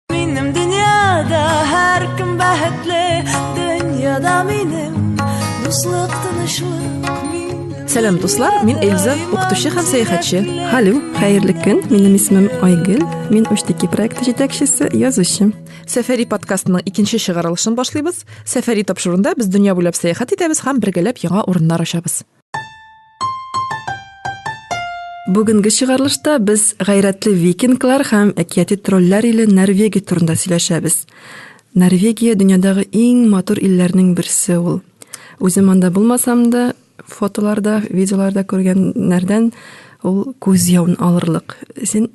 Минем дөньяда һәркем бәхетле, дөньяда минем дуслык тынычлык. Сәлам дуслар, мин Эльза, укытучы һәм сәяхәтче. Халю, хәерле көн. Минем исемем Айгөл. Мин Уштики проекты җитәкчесе, язучы. Сәфәри подкастының икенче чыгарылышын башлыйбыз. Сәфәри тапшырында без дөнья буйлап сәяхәт итәбез һәм бергәләп яңа урыннар ачабыз. Бүгенге чыгарылышта без гайрәтле викинглар һәм әкияти тролләр иле Норвегия турында сөйләшәбез. Норвегия дөньядагы иң матур илләрнең берсе ул. Үзем анда булмасам да, фотоларда, видеоларда күргәннәрдән ул күз явын алырлык. Син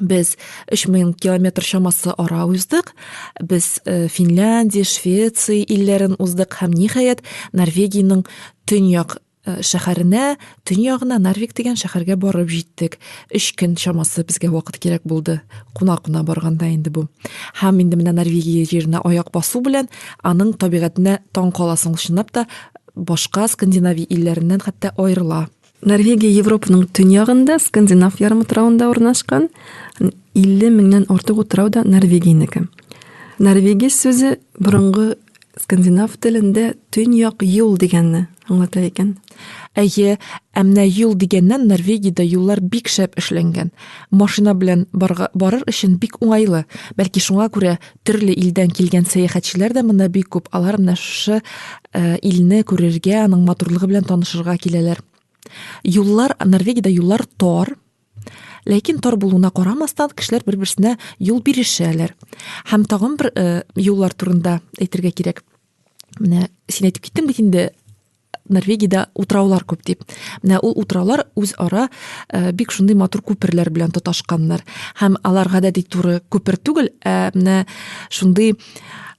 без 3000 километр чамасы ара уздык. Без э, Финляндия, Швеция илләрен уздык һәм ниһаять Норвегиянең төньяк э, шәһәренә, төньягына Нарвик дигән шәһәргә барып җиттек. 3 көн чамасы безгә вакыт кирәк булды. Куна-куна барганда инде бу. Һәм инде менә Норвегия җиренә аяк басу белән аның табигатенә таң каласың чынлап та башка скандинавия илләреннән хәтта аерыла. Норвегия Европаның төньягында, Скандинав ярымутравында урнашкан. 50 меңнән артык утрау да Норвегиянеке. Норвегия сүзе борынгы скандинав телендә төньяк юл дигәнне аңлата икән. Әйе, ә менә юл дигәннән Норвегиядә юллар бик шәп эшләнгән. Машина белән барга, барыр өчен бик уңайлы. Бәлки шуңа күрә төрле илдән килгән сәяхәтчеләр дә монда бик күп. Алар менә шушы э, илне күрергә, аның матурлыгы белән танышырга киләләр. Юллар, Норвегиядә юллар тар, ләкин тар булуына карамастан кешеләр бер берсенә юл бирешәләр һәм тагын бер э, юллар турында әйтергә кирәк менә син әйтеп киттең бит инде норвегияда утраулар күп дип менә ул утраулар үзара э, бик шундый матур күперләр белән тоташканнар һәм алар гадәти туры күпер түгел ә менә шундый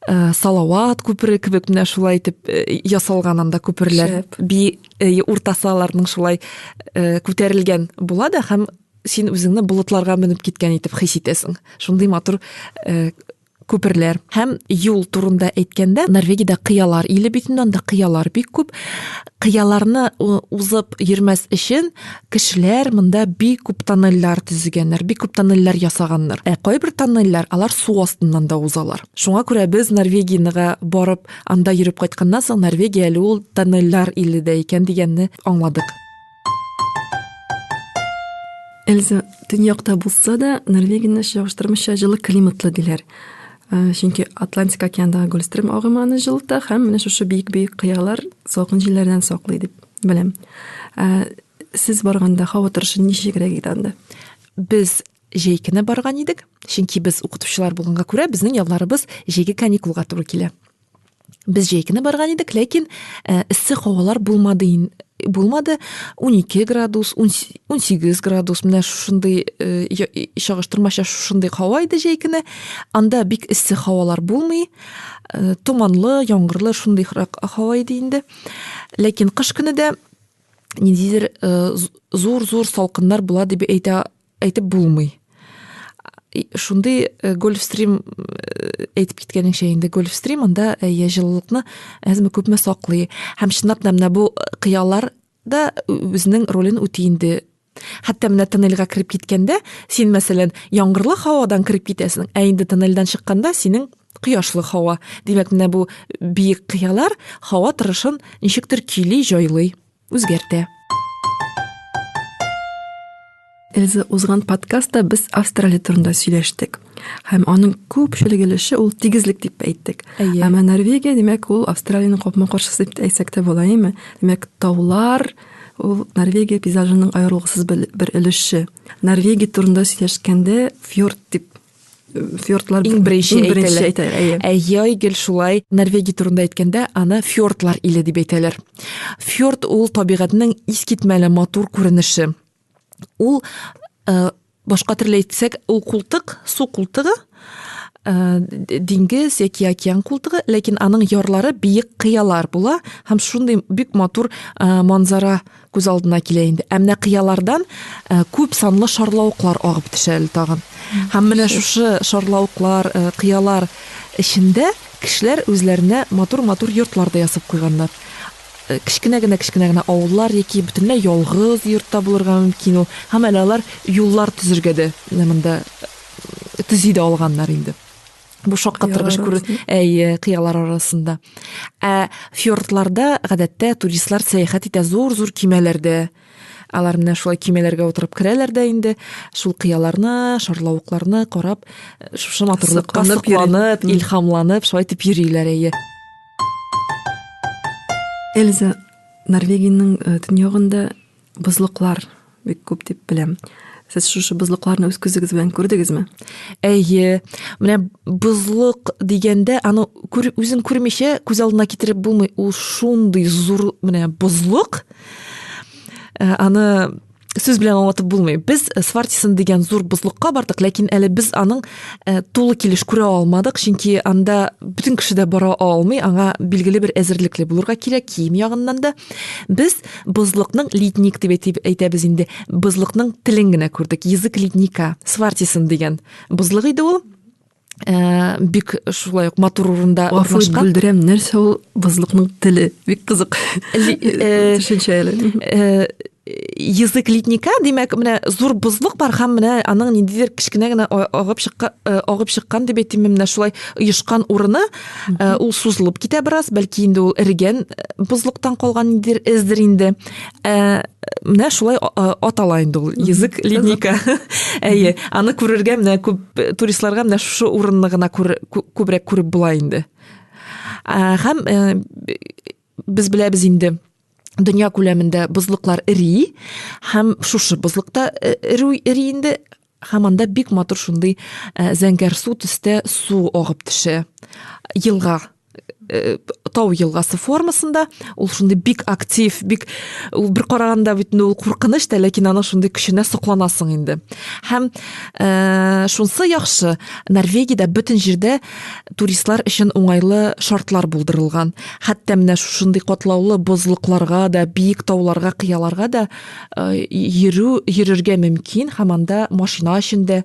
Э, салават күпере кебек менә шулай итеп э, ясалган анда күперләр би э, уртасы аларның шулай күтәрелгән була да һәм син үзеңне болытларга менеп киткән итеп хис итәсең шундый матур күперләр һәм юл турында әйткәндә норвегиядә кыялар иле бит инде анда кыялар бик күп Кыяларны узып йөрмәс өчен кешеләр монда бик күп тоннельләр төзегәннәр, бик күп тоннельләр ясаганнар. Ә кайбер тоннельләр алар су астыннан да узалар. Шуңа күрә без Норвегиягә барып, анда йөреп кайтканнан соң Норвегия әле ул тоннельләр иле дә икән дигәнне аңладык. Эльза, төньякта булса да, Норвегияне чагыштырмыйча җылы климатлы диләр. Э, чөнки атлантик океандагы гольстрим агымы аны җылыта һәм менә шушы биек биек кыялар салкын җилләрдән саклый дип беләм э, сез барганда һава торышы ничегрәк иде анда без җәй көне барган идек чөнки без укытучылар булганга күрә безнең ялларыбыз җәйге каникулга туры килә Без җәй көне барган идек, ләкин э, эссе һавалар булмады булмады 12 градус 18 градус менә шушындый э, чагыштырмача шушындый һава иде җәй көне анда бик эссе һавалар булмый э, томанлы яңгырлы шундый һава иде инде ләкин кыш көне дә ниндидер э, зур зур салкыннар була дип әйтә әйтеп булмый шундый э, гольфстрим э, әйтеп киткәнеңчә инде гольфстрим анда э, я җылылыкны әзме күпме саклый һәм чынлап та менә бу кыялар да үзенең ролен үти инде хәтта менә тоннельгә кереп киткәндә син мәсәлән яңгырлы һавадан кереп китәсең ә инде тоннельдән чыкканда синең кояшлы һава димәк менә бу биек кыялар һава торышын ничектер көйли җайлый Үзгәртә. Эльза, узган подкастта без Австралия турында сөйләштек. Һәм аның күпчелек өлеше ул тигезлек дип әйттек. Әйе. Әмма Норвегия, димәк, ул Австралиянең капма-каршысы дип әйтсәк тә була, әйме? Димәк, таулар ул Норвегия пейзажының аерылгысыз бер өлеше. Норвегия турында сөйләшкәндә фьорд дип фьордлар иң беренче әйтәләр. Әйе. Әйе, гел шулай. Норвегия турында әйткәндә, аны фьордлар иле дип әйтәләр. Фьорд ул табигатьнең искитмәле матур күренеше. Ул э, башка төрле әйтсәк, ул култык, су култыгы, э, диңгез яки океан култыгы, ләкин аның ярлары биек кыялар була һәм шундый бик матур э, манзара күз алдына килә инде. Ә менә кыялардан э, күп санлы шарлавыклар агып төшә әле тагын. Һәм менә шушы шарлавыклар, э, кыялар эчендә кешеләр үзләренә матур-матур йортлар да ясап куйганнар. Э, кечкенә генә кечкенә генә авыллар яки бөтенләй ялгыз йортта булырга мөмкин ул. Һәм әле алар юллар төзергә дә монда төзи дә алганнар инде. бу шаккатыргыч күр әйе кыялар арасында ә фьордларда гадәттә туристлар сәяхәт итә зур зур кимәләрдә алар менә шулай кимәләргә утырып керәләр дә инде шул кыяларны шарлавыкларны карап шушы матурлыкка сокланып илһамланып шулай итеп йөриләр әйе эльза норвегиянең төньягында Бозлыклар бик күп дип беләм. Сез шушы бозлыкларны үз күзегез белән күрдегезме? Әйе. Менә бозлык дигәндә, аны күр, үзен күрмичә күз алдына китереп булмый. Ул шундый зур менә бозлык. Э, аны сүз белән аңлатып булмый. Без э, Свартисон дигән зур бозлыкка бардык, ләкин әле без аның э, тулы килеш күрә алмадык, чөнки анда бөтен кеше дә бара алмый, аңа билгеле бер әзерлекле булырга кирәк, кием ягыннан да. Без Бозлыкның ледник дип әйтеп әйтәбез инде. Бозлыкның телен генә күрдек. Язык ледника, свартисон дигән. Бозлык иде ул. Ә, бик шулай ук матур урында урнашкан. Бүлдерәм, нәрсә ул бозлыкның теле? Бик кызык. Э, Төшенчә әле. Э, язык ледника, димәк, менә зур бозлык бар һәм менә аның ниндидер кечкенә генә агып чыккан, э, агып чыккан дип әйтимме, менә шулай оешкан урыны, Э, ул сузылып китә бераз бәлки инде ул эрегән э, бозлыктан калган эздер инде э, менә шулай атала инде ул язык линейка әйе аны күрергә менә күп туристларга менә шушы урынны гына күбрәк күреп була инде һәм без беләбез инде дөнья күләмендә бозлыклар эри һәм шушы бозлыкта эри инде Һәм анда бик матур шундый зәңгәр су төстә су агып төшә. Елга Э, тау елгасы формасында ул шундый бик актив бик ул бер караганда бит ул куркыныч та ләкин аның шундый көченә сокланасың инде һәм ә, шунсы яхшы норвегиядә бөтен җирдә туристлар өчен уңайлы шартлар булдырылган хәтта менә шушындый катлаулы бозлыкларга да биек тауларга кыяларга да йөрү йөрергә мөмкин һәм анда машина өчен дә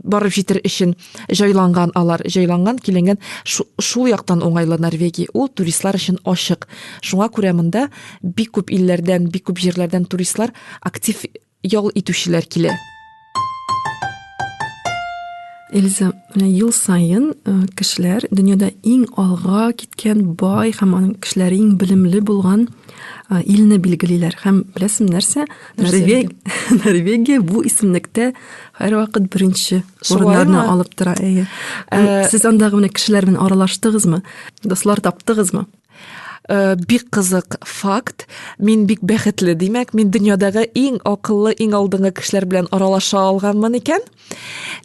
барып җитер өчен җайланган алар җайланган киленгән шул яктан уңайлы норвегия ул туристлар өчен ачык шуңа күрә монда бик күп илләрдән бик күп җирләрдән туристлар актив ял итүчеләр килә Эльза, менә ел саен кешеләр дөньяда иң алга киткән бай һәм аның кешеләре иң белемле булган илне билгелиләр. Һәм беләсең нәрсә? Норвегия, Норвегия бу исемлектә һәрвакыт беренче урыннарны алып тора. Әйе. Сез андагы менә кешеләр белән аралаштыгызмы? Дуслар таптыгызмы? Э, бик кызык факт мин бик бәхетле димәк мин дөньядагы иң акыллы иң алдынгы кешеләр белән аралаша алганмын икән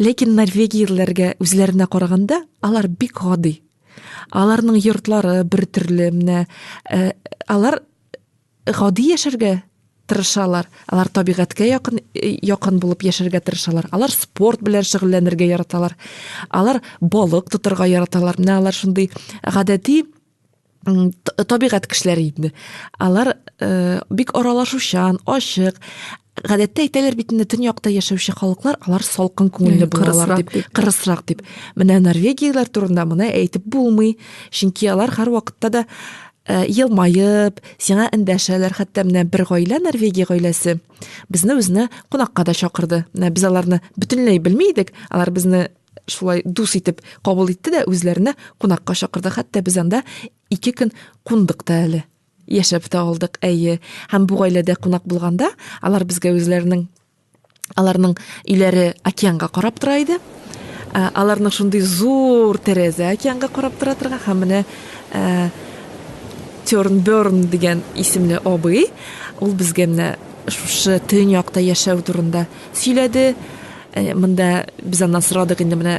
ләкин норвегияләргә үзләренә караганда алар бик гади аларның йортлары бер төрле менә э, алар гади яшәргә тырышалар. Алар табигатькә якын якын булып яшәргә тырышалар. Алар спорт белән шөгыльләнергә яраталар. Алар балык тотарга яраталар. Менә алар шундый гадәти табигать кешеләре инде. Алар э, бик аралашучан, ачык. Гадәттә әйтәләр бит инде төньякта яшәүче халыклар алар салкын күңелле булалар дип, кырысрак дип. Менә норвегияләр турында моны әйтеп булмый, чөнки алар һәрвакытта да Э, елмаеп, сиңа эндәшәләр, хәтта менә бер гаилә, Норвегия гаиләсе, безне үзенә кунакка да чакырды. Менә без аларны бөтенләй белми идек, алар безне шулай дус итеп кабул итте дә үзләренә кунакка чакырды. Хәтта без анда ике көн кундык та әле. Яшәп та алдык, әйе. Һәм бу гаиләдә кунак булганда, алар безгә үзләренең Аларның өйләре океанга карап тора иде. Ә, Аларның шундый зур тәрәзә океанга карап тора торган һәм менә ә, Тернберн дигән исемле абый, ул безгә менә шушы төньякта яшәү турында сөйләде. Ә, Монда без аннан сорадык инде менә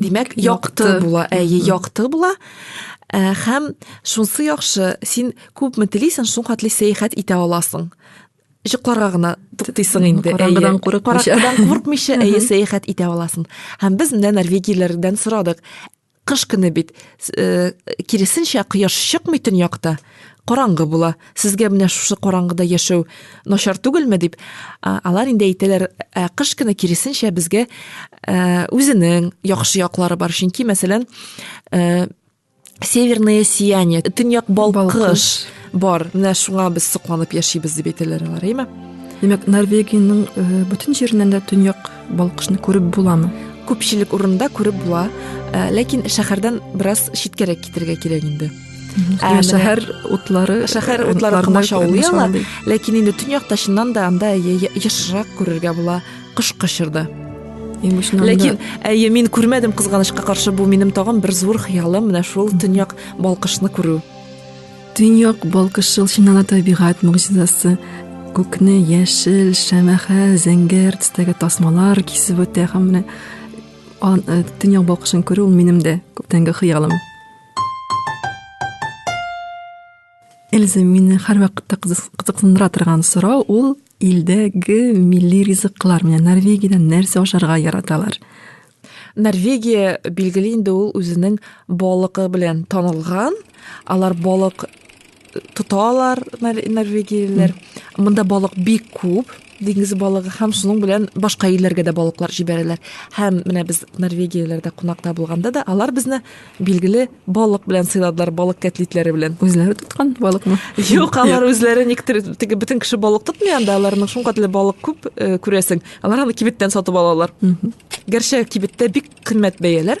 Димәк, якты була, әйе, якты була. Ә, һәм шунсы яхшы, син күпме телисең, шул хәтле сәяхәт итә аласың. Җыкларга гына туктыйсың инде. Караңгыдан курыкмыйча. Караңгыдан курыкмыйча, әйе, сәяхәт итә аласың. Һәм без менә норвегияләрдән сорадык. Кыш көне бит, э, киресенчә, кояш чыкмый төньякта. Караңгы була. Сезгә менә шушы караңгыда яшәү начар түгелме дип, алар инде әйтәләр, ә кыш көне киресенчә безгә үзенең яхшы яклары бар. Чөнки, мәсәлән, северное сияние, төньяк балкыш бар. Менә шуңа без сокланып яшибез дип әйтәләр алар, әйме? Димәк, Норвегиянең бөтен җиреннән дә төньяк балкышны күреп буламы? Күпчелек урында күреп була, ләкин шәһәрдән бераз читкәрәк китергә кирәк инде. Ә шәһәр утлары шәһәр э, утлары комачаулый ала, ләкин инде төньякта чыннан да анда ешрак күрергә була кыш кычырды. Ләкин әйе мин күрмәдем кызганычка каршы бу минем тагын бер зур хыялым менә шул төньяк балкышны күрү. Төньяк балкышы чыннан да табигать могҗизасы. Күкне яшел, шәмәхә, зәңгәр төстәге тасмалар кисеп үтә һәм менә э, төньяк балкышын күрү минем дә күптәнге хыялым. Эльза, мине һәрвакытта кызыксындыра торган сорау ул илдәге милли ризыклар. Менә Норвегиядә нәрсә ашарга яраталар? Норвегия билгеле инде ул үзенең балыкы белән танылган. Алар балык тота алар норвегиялеләр монда балык бик күп диңгез балыгы һәм шуның белән башка илләргә дә балыклар җибәрәләр һәм менә без норвегияләрдә кунакта булганда да алар безне билгеле балык белән сыйладылар балык кәтлитләре белән үзләре тоткан балыкмы юк алар үзләре никтер теге бөтен кеше балык тотмый анда аларның шуңкатлы балык күп э, күрәсең алар аны кибеттән сатып алалар гәрчә кибеттә бик кыйммәт бәяләр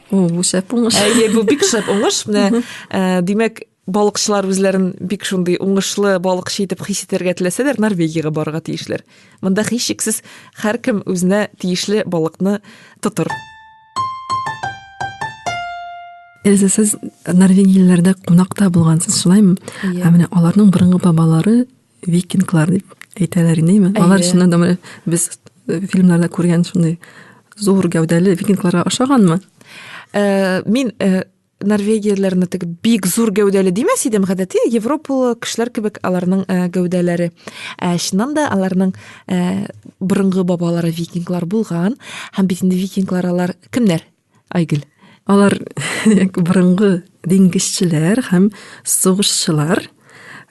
О, бу шәп уңыш. Әйе, бу бик шәп уңыш. Менә, э, димәк, балыкчылар үзләрен бик шундый уңышлы балыкчы итеп хис итәргә теләсәләр, Норвегиягә барырга тиешләр. Монда һичшиксез һәркем үзенә тиешле балыкны тотыр. Эльза, сез норвегияләрдә кунакта булгансыз, шулаймы? Ә менә аларның борынгы бабалары викинглар дип әйтәләр инде ме алар чыннан да без э, фильмнарда күргән шундый зур гәүдәле викингларга ошаганмы э, мин э, норвегияләрне теге бик зур гәүдәле димәс идем гадәти европалы кешеләр кебек аларның э, гәүдәләре ә чыннан да аларның ә, э, борынгы бабалары викинглар булган һәм бит инде викинглар алар кемнәр Айгөл, алар борынгы диңгезчеләр һәм сугышчылар,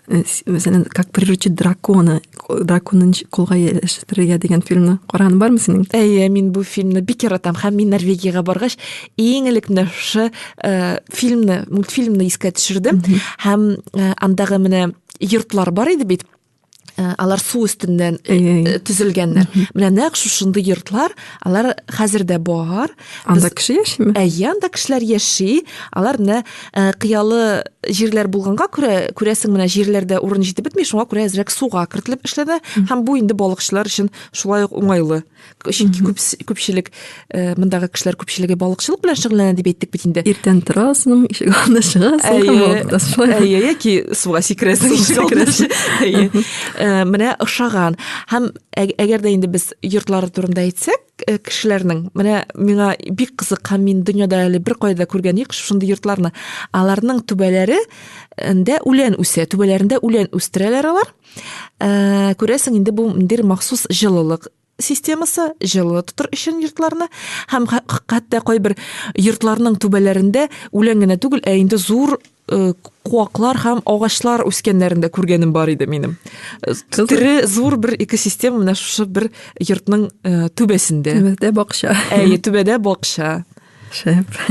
э, мәсәлән, как приручить дракона, драконын кулга ияләштерергә дигән фильмны караган бармы синең? Әйе, мин бу фильмны бик яратам һәм мин Норвегиягә баргач, иң элек менә шушы э, фильмны, мультфильмны искә төшердем һәм э, андагы менә йортлар бар иде бит. Э, алар су өстеннән э, э, төзелгәннәр менә нәкъ шушындый йортлар алар хәзер дә бар анда кеше яшиме әйе анда кешеләр яши алар менә кыялы җирләр булганга күрә күрәсең менә җирләрдә урын җитеп бетми шуңа күрә әзрәк суга кертелеп эшләнә һәм бу инде балыкчылар өчен шулай ук уңайлы чөнки күп күпчелек э, мондагы кешеләр күпчелеге балыкчылык белән шөгыльләнә дип әйттек бит инде иртән торасың ишек алдына чыгасың әйе яки суга сикерәсең ишек алдына әйе э, менә ошаган һәм әгәр дә инде без йортлары турында әйтсәк э, кешеләрнең менә миңа бик кызык һәм мин дөньяда әле бер кайда күргән юк шундый йортларны аларның түбәләре ндә үлән үсә түбәләрендә үлән үстерәләр алар Ә, күрәсең инде бу ниндидер махсус җылылык системасы җылы тотыр өчен йортларны һәм хәтта кайбер йортларның түбәләрендә үлән генә түгел, ә инде зур э, куаклар һәм агачлар үскәннәрен дә күргәнем бар иде минем. Э, Тере зур бер экосистема менә шушы бер йортның э, түбәсендә. Түбәдә бакча. Әйе, түбәдә бакча. Шәп.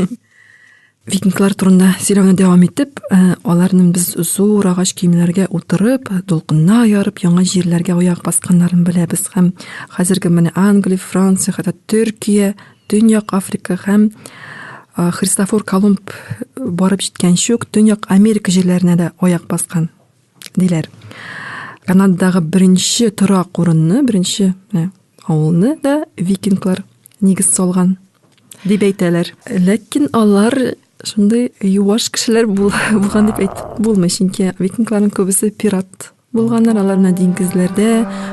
викинглар турында сөйләүне дәвам итеп, э, аларның без зур агач киемнәргә утырып, дулкынна ярып, яңа җирләргә аяк басканнарын беләбез һәм хәзерге менә Англия, Франция, хәтта Төркия, Төньяк Африка һәм э, Христофор Колумб барып җиткән чук Төньяк Америка җирләренә дә аяк баскан. диләр. Канададагы беренче торак урынны, беренче авылны да викинглар нигез салган дип әйтәләр. Ләкин алар шундый юаш кешеләр булган дип әйтеп булмый, чөнки викингларның күбесе пират булганнар, алар менә диңгезләрдә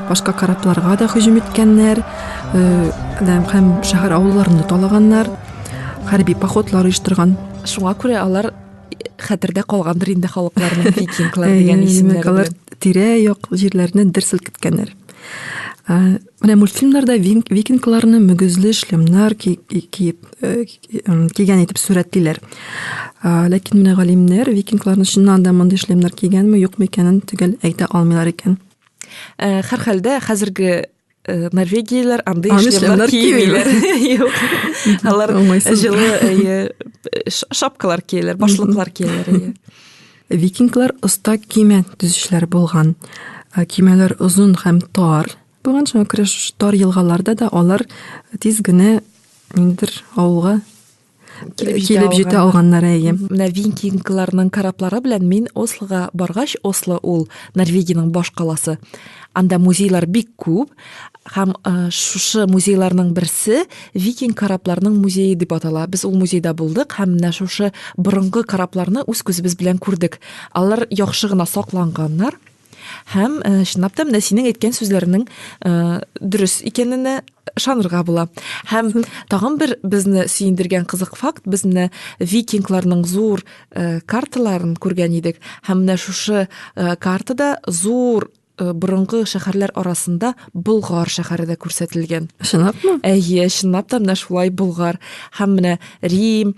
башка корабларга да һөҗүм иткәннәр, һәм шәһәр авылларны талаганнар, хәрби походлар оештырган. Шуңа күрә алар хәтердә калгандыр инде халыкларның викинглар дигән исемнәре алар тирә як җирләрне дер селкеткәннәр менә мультфильмнарда викингларны мөгезле шлемнар киеп э, кигән итеп сурәтлиләр ләкин менә галимнәр викингларны чыннан да мондый шлемнар кигәнме юкмы икәнен төгәл әйтә алмыйлар икән э, һәрхәлдә хәзерге Э, норвегияләр андый шлемнар киемиләр юк алар җылы э, шапкалар кияләр башлыклар кияләр викинглар оста киме төзүчеләр булган э, кимәләр озын һәм тар булган шуңа күрә тар елгаларда да алар тиз генә ниндидер авылга килеп җитә алганнар әйе менә викингларның кораблары белән мин ослога баргач осло ул норвегиянең баш каласы анда музейлар бик күп һәм шушы музейларның берсе викинг корабларының музее дип атала без ул музейда булдык һәм менә шушы борынгы корабларны үз күзебез белән күрдек алар яхшы гына сакланганнар Һәм э, чынлап та менә синең әйткән сүзләрнең э, дөрес икәненә ышанырга була. Һәм тагын бер безне сөендергән кызык факт, без менә викингларның зур э, карталарын күргән идек. Һәм менә шушы э, картада зур Э, борынгы шәһәрләр арасында Болгар шәһәре дә күрсәтелгән. Чынлапмы? Әйе, чынлап та менә шулай Болгар һәм менә Рим,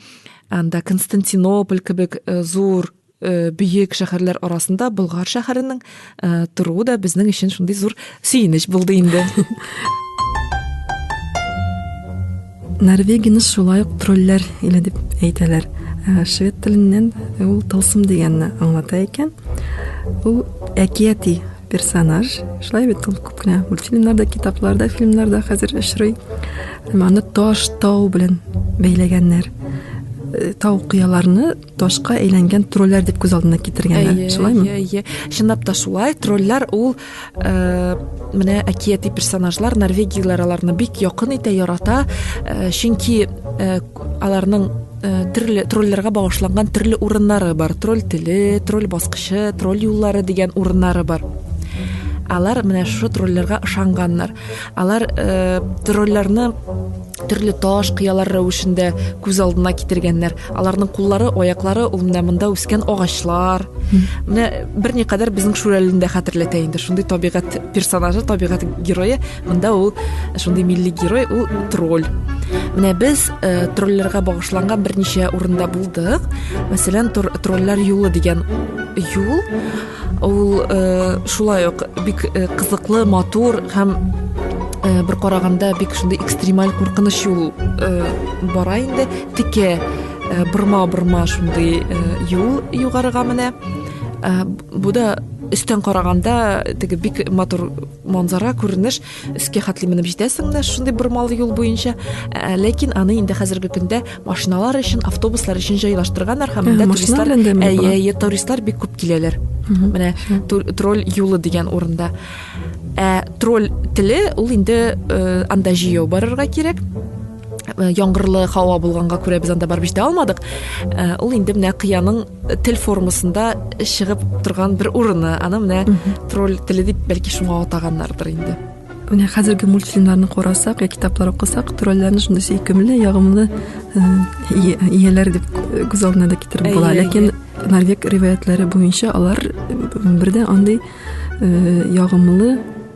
анда Константинополь кебек э, зур Э, бөек шәһәрләр арасында Болгар шәһәренең э, торуы да безнең өчен шундый зур сөенеч булды инде. Норвегияне шулай ук тролләр иле дип әйтәләр. Э, швед теленнән ул тылсым дигәнне аңлата икән. Ул әкияти персонаж. Шулай бит ул күп кенә мультфильмнарда, китапларда, фильмнарда хәзер очрый. Аны таш, тау белән бәйләгәннәр. Тау кыяларны ташка әйләнгән тролләр дип күз алдына китергәннәр шулаймы әйе чынлап та шулай тролләр ул э, менә әкияти персонажлар норвегияләр аларны бик якын итә ярата э, чөнки э, аларның Э, төрле троллерга багышланган төрле урыннары бар тролль теле тролль баскычы тролль юллары дигән урыннары бар алар менә шушы троллерга ышанганнар алар э, троллерны төрле таш кыялар рәвешендә күз алдына китергәннәр аларның куллары аяклары ул менә монда үскән агачлар менә берникадәр безнең шүрәлеләрне дә хәтерләтә инде шундый табигать персонажы табигать герое монда ул шундый милли герой ул тролль менә без э, тролльләргә багышланган берничә урында булдык мәсәлән тролльләр юлы дигән юл Ул шулай ук бик кызыклы, матур һәм бер караганда бик шундый экстремаль куркыныч юл бара инде. Текә борма-борма шундый юл югарыга менә. Бу да өстән караганда теге бик матур манзара, күренеш. өскә хәтле менеп җитәсең дә шундый бормалы юл буенча ә, ләкин аны инде хәзерге көндә машиналар өчен автобуслар өчен җайлаштырганнар һәм монда туристлар әйе туристлар бик күп киләләр менә тролль юлы дигән урында ә тролль теле ул инде э, анда җәяү барырга кирәк Э, яңгырлы һава булганга күрә без анда барып җитә алмадык э, ул инде менә кыяның тел формасында чыгып торган бер урыны аны менә тролль теле дип бәлки шуңа атаганнардыр инде менә хәзерге мультфильмнарны карасак я китаплар укысак тролльләрне шундый сөйкемле ягымлы э, ияләр дип күз алдына да китереп була ләкин норвег риваятләре буенча алар бердә андый ягымлы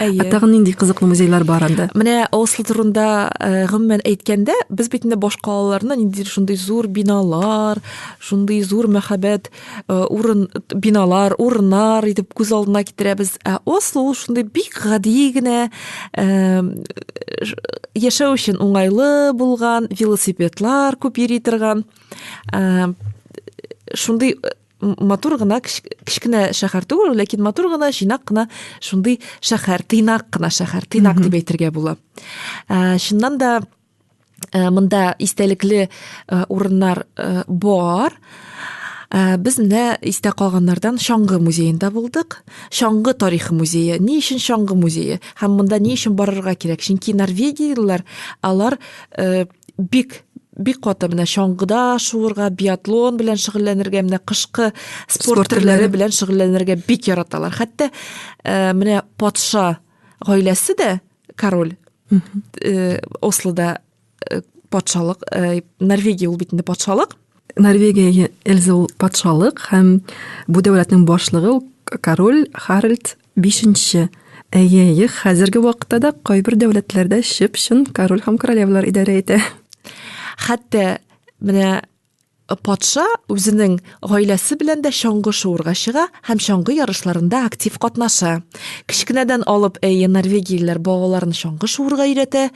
Ә тагын нинди кызыклы музейлар бар анда? Менә Осло турында э, гомумән әйткәндә, без бит инде башка аларны нинди шундый зур биналар, шундый зур мәхәббәт э, урын биналар, урыннар итеп күз алдына китерәбез. Ә Осло ул шундый бик гади генә э, яшәү өчен уңайлы булган, велосипедлар күп йөри торган шундый матур гына кечкенә шәһәр түгел ләкин матур гына җыйнак кына шундый шәһәр тыйнак кына шәһәр тыйнак дип әйтергә була ә, чыннан да ә, монда истәлекле ә, урыннар ә, бар Э, без менә истә калганнардан чаңгы музеенда булдык чаңгы тарихы музее ни өчен чаңгы музее һәм монда ни өчен барырга кирәк чөнки норвегиялеләр алар э, бик бик каты менә чаңгыда шуырга, биатлон белән шөгыльләнергә, менә кышкы спорт төрләре белән шөгыльләнергә бик яраталар. Хәтта э, менә патша гаиләсе дә король э, Ослода э, патшалык, э, Норвегия ул бит инде патшалык. Норвегия Эльза ул патшалык һәм бу дәүләтнең башлыгы король Харальд Бишенче. Әйе, әйе, хәзерге вакытта да кайбер дәүләтләрдә чып-чын король һәм королевалар идарә итә. Хәтта менә патша үзенең гаиләсе белән дә чаңгы шуырга чыга һәм чаңгы ярышларында актив катнаша. Кечкенәдән алып, әйе, норвегиялеләр балаларын чаңгы шуырга өйрәтә,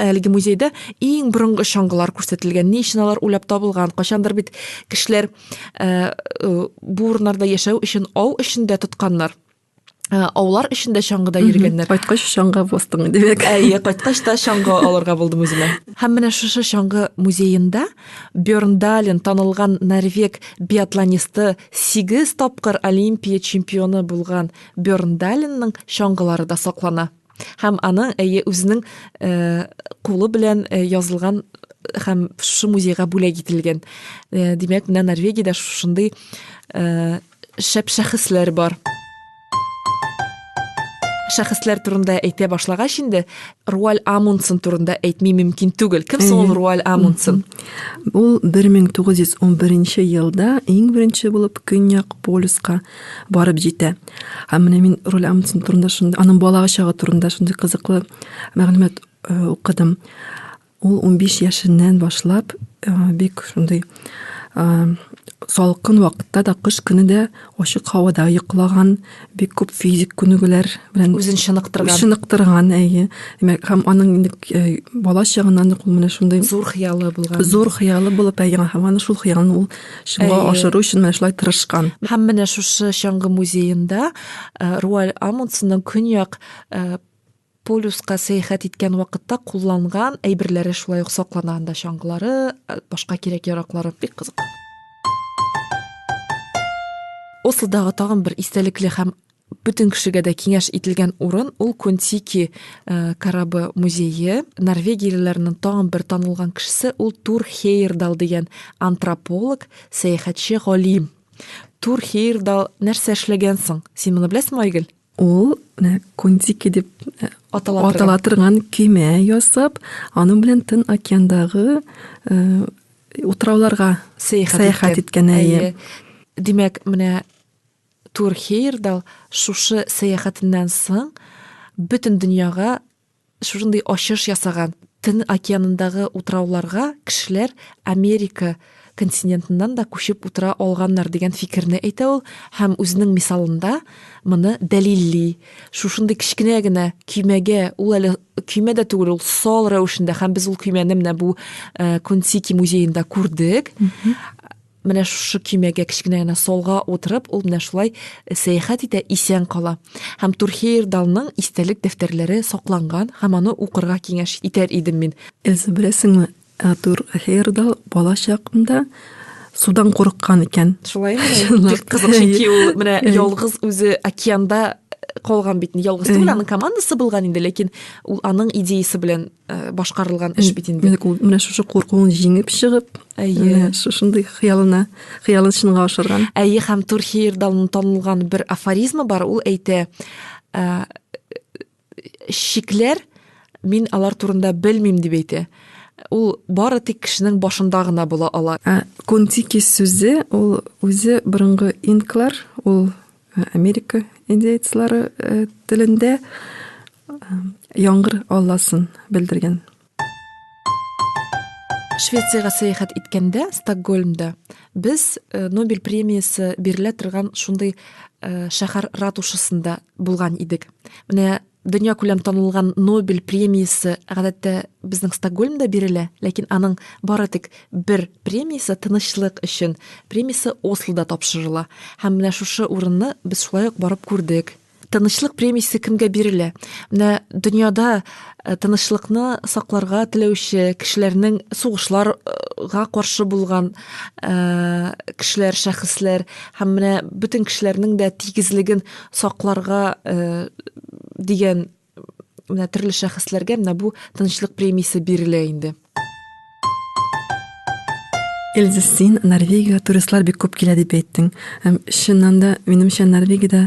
Әлеге музейда иң борынгы чаңгылар күрсәтелгән. Ни өчен алар уйлап табылган? Кайчандыр бит кешеләр э, э, бу урыннарда яшәү өчен ау өчен дә тотканнар. Э, аулар өчен дә чаңгыда йөргәннәр. Кайткач чаңга бастың димәк. Әйе, кайткач та чаңга алырга булдым үземә. Һәм менә шушы чаңгы музеенда Бёрндален танылган норвег биатлонисты 8 тапкыр Олимпия чемпионы булган Бёрндаленның чаңгылары да саклана. Һәм аның әйе үзенең э, кулы белән э, язылган һәм шушы музейга бүләк ителгән. Э, димәк, менә Норвегиядә шушындый э, шәп шәхесләр бар. Шәхесләр турында әйтә башлагач инде, Руаль Амундсен турында әйтми мөмкин түгел. Кем соң ул Руаль Амундсен? Ул 1911 елда иң беренче булып Көньяк полюска барып җитә. Һәм менә мин Роль Амундсен турында шундый, аның бала чагы турында шундый кызыклы мәгълүмат э, укыдым. Ул 15 яшеннән башлап э, бик шундый э, салкын вакытта да кыш көне дә ачык һавада йоклаган, бик күп физик күнегүләр белән үзен чыныктырган. Чыныктырган, әйе. Димәк, һәм аның инде э, бала чагыннан ук ул менә шундый зур хыялы булган. Зур хыялы булып, әйе, һәм аны шул хыялын ул чынга ашыру өчен менә шулай тырышкан. Һәм менә шушы чаңгы музеенда Руаль Амундсенның көньяк полюска сәяхәт иткән вакытта кулланган әйберләре шулай ук саклана анда чаңгылары, башка кирәк-яраклары бик кызык. Ослодагы тагын бер истәлекле һәм Бөтен кешегә дә киңәш ителгән урын ул Контики э, корабы музее. Норвегиялеләрнең тагын бер танылган кешесе ул Тур Хейердал дигән антрополог, сәяхәтче галим. Тур Хейердал нәрсә эшләгән соң? Син моны беләсеңме, Айгөл? Ул э, Контики дип э, атала, атала торган көймә ясап, аның белән Тын океандагы э, утрауларга сәяхәт, сәяхәт иткән. Димәк, менә Тур Хейердал шушы сәяхәтеннән соң бөтен дөньяга шушындый ачыш ясаган. Тын океанындагы утрауларга кешеләр Америка континентыннан да күчеп утыра алганнар дигән фикерне әйтә ул һәм үзенең мисалында моны дәлилли. Шушындый кечкенә генә көймәгә, ул әле көймә дә түгел, ул сал рәвешендә һәм без ул көймәне менә бу Кунтики музеенда күрдек. менә шушы көймәгә кечкенә генә солга утырып ул менә шулай э, сәяхәт итә исән кала һәм турхейр далның истәлек дәфтәрләре сакланган һәм аны укырга киңәш итәр идем мин Эз беләсеңме э, турхейр дал бала чакында судан курыккан икән шулай бик кызык чөнки ул менә ялгыз үзе океанда калган бит ялгыз түгел аның командасы булган инде ләкин ул аның идеясы белән Э, башкарылган эш бит инде менә шушы куркуын җиңеп чыгып әйе шушындый хыялына хыялын чынга ашырган әйе һәм турхиердан танылган бер афоризмы бар ул әйтә ә, шикләр мин алар турында белмим дип әйтә ул бары тик кешенең башында гына була ала ә, сүзе ул үзе борынгы инклар ул Америка индейцлары э, телендә э, яңгыр алласын белдергән. Швециягә сәяхәт иткәндә, Стокгольмда, без э, Нобель премиясе бирелә торган шундый шәһәр ратушасында булган идек. Менә дөньякүләм танылган Нобель премиясе гадәттә безнең Стокгольмда бирелә, ләкин аның бары тик бер премиясе тынычлык өчен премиясе Ослода тапшырыла. Һәм менә шушы урынны без шулай ук барып күрдек. Тынычлык премиясе кемгә бирелә? Менә дөньяда э, тынычлыкны сакларга теләүче кешеләрнең сугышларга каршы булган э, кешеләр, шәхесләр һәм менә бөтен кешеләрнең дә тигезлеген сакларга дигән менә төрле шәхесләргә менә бу тынычлык премиясе бирелә инде Эльза, син Норвегиягә туристлар бик күп килә дип әйттең. Һәм чыннан да, минемчә, Норвегиядә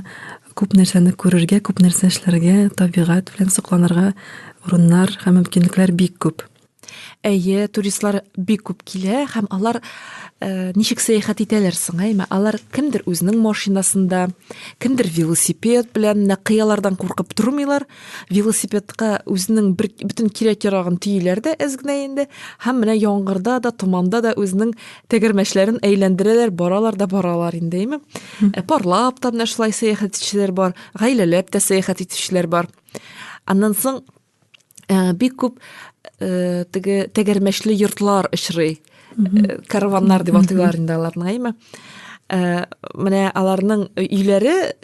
күп нәрсәне күрергә, күп нәрсә эшләргә, табигать белән сокланырга урыннар һәм мөмкинлекләр бик күп. Әйе, туристлар бик күп килә һәм алар э, ничек сәяхәт итәләр соң, әйме? Алар кемдер үзенең машинасында, кемдер велосипед белән менә кыялардан куркып тормыйлар. Велосипедка үзенең бер бөтен кирәк-ярагын төйиләр дә әз генә инде һәм менә яңгырда да, томанда да үзенең тәгәрмәчләрен әйләндерәләр, баралар да баралар инде, әйме? Ә парлап та менә шулай сәяхәт итүчеләр бар, гаиләләп тә сәяхәт итүчеләр бар. Аннан соң Ә, бик күп э, теге тәгәрмәчле йортлар очрый. Э, караваннар дип атыйлар инде аларны, әйме? Э, менә аларның өйләре э,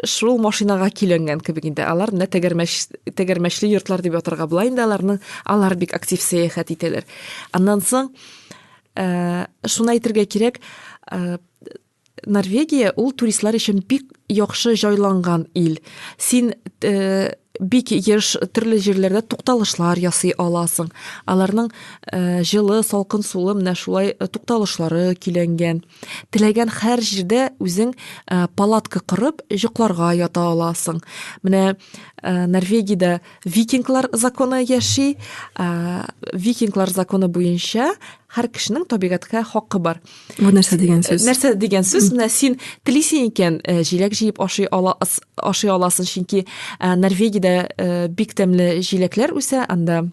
шул машинага киләнгән кебек инде. Алар менә тәгәрмәч тәгәрмәчле йортлар дип атырга була инде аларның. Алар бик актив сәяхәт итәләр. Аннан соң э, шуны әйтергә кирәк, э, Норвегия ул туристлар өчен бик яхшы җайланган ил. Син э, бик еш төрле җирләрдә тукталышлар ясый аласың. Аларның э, җылы, салкын сулы менә шулай э, тукталышлары көйләнгән. Теләгән һәр җирдә үзең э, палатка корып, җокларга ята аласың. Менә э, Норвегиядә викинглар законы яши. Э, викинглар законы буенча һәр кешенең табигатькә хакы бар бу нәрсә дигән сүз нәрсә дигән сүз менә син телисең икән җиләк җыеп ашый ала ашый аласың чөнки норвегиядә бик тәмле җиләкләр үсә анда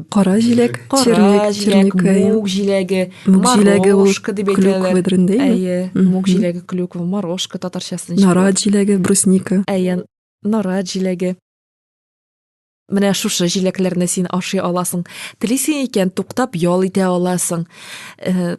кара җиләк кара җиләк мук җиләге мук җиләге ул дип әйтәләр әйе мук җиләге клюква морожка татарчасы нара җиләге брусника әйе нара җиләге Менә шушы җиләкләрне син ашый аласың. Телисең икән, туктап ял итә аласың. Э,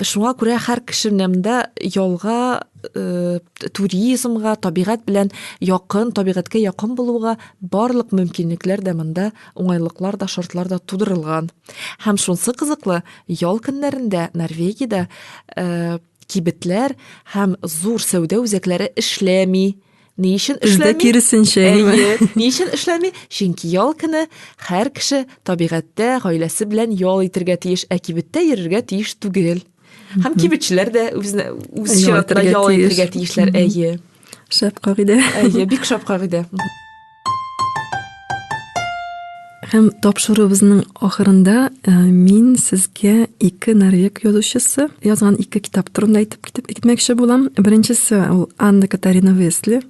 шуңа күрә һәр кешенең дә ялга э, туризмга, табигать белән якын, табигатькә якын булуга барлык мөмкинлекләр дә монда, уңайлыклар да, шартлар да тудырылган. Һәм шунсы кызыклы, ял көннәрендә Норвегиядә э, кибетләр һәм зур сәүдә үзәкләре эшләми. Ни өчен эшләми? киресенчә. Әйе. Ни өчен эшләми? Чөнки ял көне һәр кеше табигатьтә гаиләсе белән ял итергә тиеш, ә кибеттә йөрергә тиеш түгел. Һәм кибетчеләр дә үзенә үз чиратында ял итергә тиешләр. Әйе. Шәп кагыйдә. Әйе, бик шәп кагыйдә. Һәм тапшыруыбызның ахырында э, мин сезгә ике норвег язучысы язган ике китап турында әйтеп китеп китмәкче булам. Беренчесе ул Анна Катарина Весли.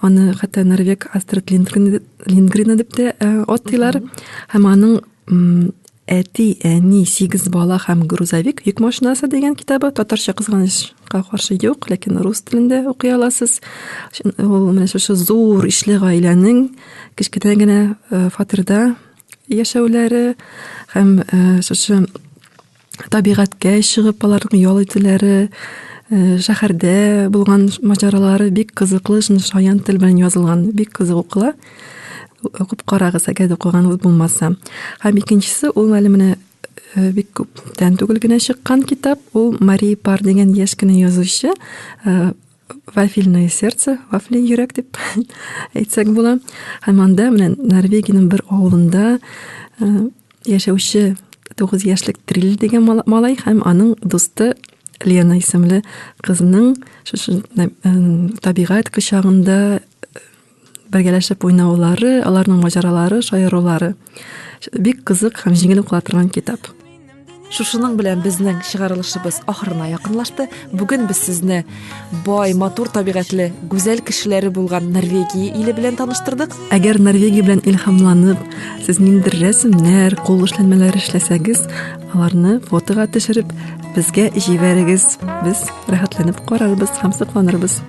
Аны хәтта норвег Астрид Лингрен, Лингрена дип тә э, атыйлар. Һәм аның әти әни сигез бала һәм грузовик йөк машинасы дигән китабы татарча кызганычка каршы юк ләкин рус телендә укый аласыз ул менә шушы зур ишле гаиләнең кечкенә генә фатирда яшәүләре һәм шушы табигатькә чыгып аларның ял итүләре э, шәһәрдә булган маҗаралары бик кызыклы шуны шаян тел белән язылган бик кызык укыла укып карагыз әгәр укыганыгыз булмаса һәм икенчесе ул әле менә э, бик күптән түгел генә чыккан китап ул мари пар дигән яшь кенә язучы э, вафельное сердце, вафли йөрәк дип әйтсәк була. Һәм анда менә Норвегиянең бер авылында э, яшәүче 9 яшьлек Трил дигән малай һәм аның дусты Лена исемле кызның шушы э, табигать кочагында бергәләшеп уйнаулары, аларның маҗаралары, шаярулары. Бик кызык һәм җиңел укыла торган китап. Шушының белән безнең чыгарылышыбыз ахырына якынлашты. Бүген без сезне бай, матур табигатьле, гүзәл кешеләре булган Норвегия иле белән таныштырдык. Әгәр Норвегия белән илһамланып, сез ниндидер рәсемнәр, кул эшләнмәләр эшләсәгез, аларны фотога төшереп, безгә җибәрегез. Без рәхәтләнеп карарбыз һәм сокланырбыз.